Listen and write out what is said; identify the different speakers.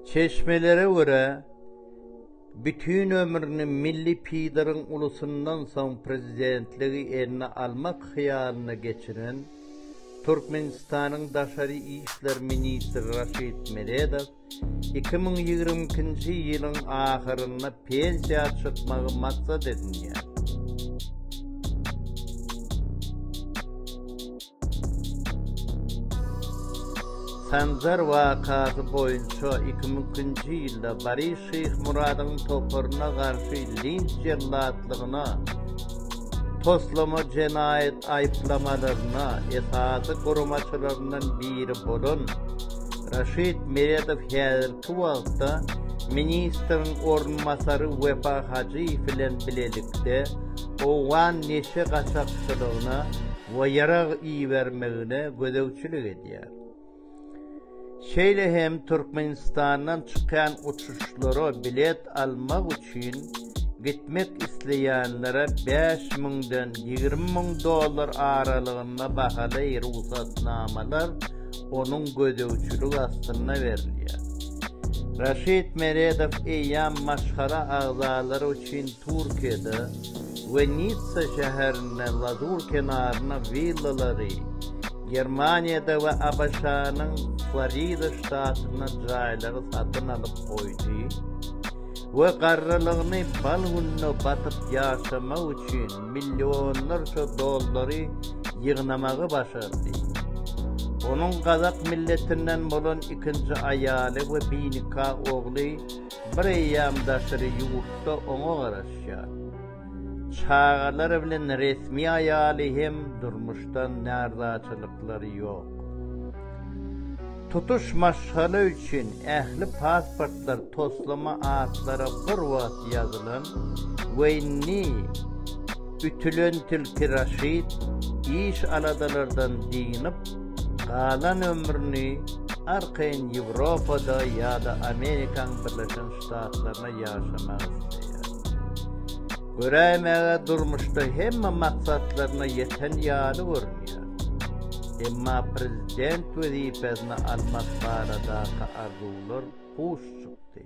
Speaker 1: Çeşmelere görä, bütin ömrüni milli pideriň ulusyndan soň prezidentligi eline almak hyýalynda geçiren Türkmenistanyň daşary işler ministri Raşid Meredow iki müň ýigrimi ikinji ýylyň ahyrynda pensiýa çykmagy maksat edinýär. Sanjar wakasy boýunça iki müň nji ýylda Boris Şyhmuradyň toparyna garşy linç jellatlygyna toslama jenaýat aýyplamalaryna esasy guramaçylaryndan biri bolan Raşid Meredow häzirki wagtda ministriň orunbasary Wepa Hajyýew bilen bilelikde owgan neşe gaçakçylygyna we ýarag ibermegine gözegçilik edýär. Şeýle hem Türkmenistandan çykýan uçuşlara bilet almak üçin gitmek isleýänlere bäş müňden ýigrimi müň dollar aralygynda bahaly rugsatnamalar onuň gözegçiligi astynda berilýär. Raşid Meredow eýýäm maşgala agzalary üçin Türkiýede, we Nitsa şäherinde Lazur kenaryna willalary, Germaniýada we ABŞ-nyň Florida ştatynda jaýlary satyn alyp goýdy we garrylygyny bal gününe batyp ýaşamak üçin millionlarça dollary ýygnamagy başardy. Onuň gazak milletinden bolan ikinji aýaly we binika ogly Bir eýýam daşary ýurtda oňa garaşýar. Çagalar bilen resmi aýaly hem durmuşdan närzaçylyklary ýok. Tutuş maşgala üçin ähli pasportlar toslama atlara bir wagt ýazylan we indi Ütülen tilki Raşid iş-aladalardan dynyp, galan ömrüni arkaýyn Ýewropada ýa-da Amerikaň Birleşen Ştatlaryna ýaşamak isleýär. Göräýmäge durmuşda hemme maksatlaryna ýeten ýaly görünýär. Emma prezident wezipesini almak baradaky arzuwlar puç çykdy.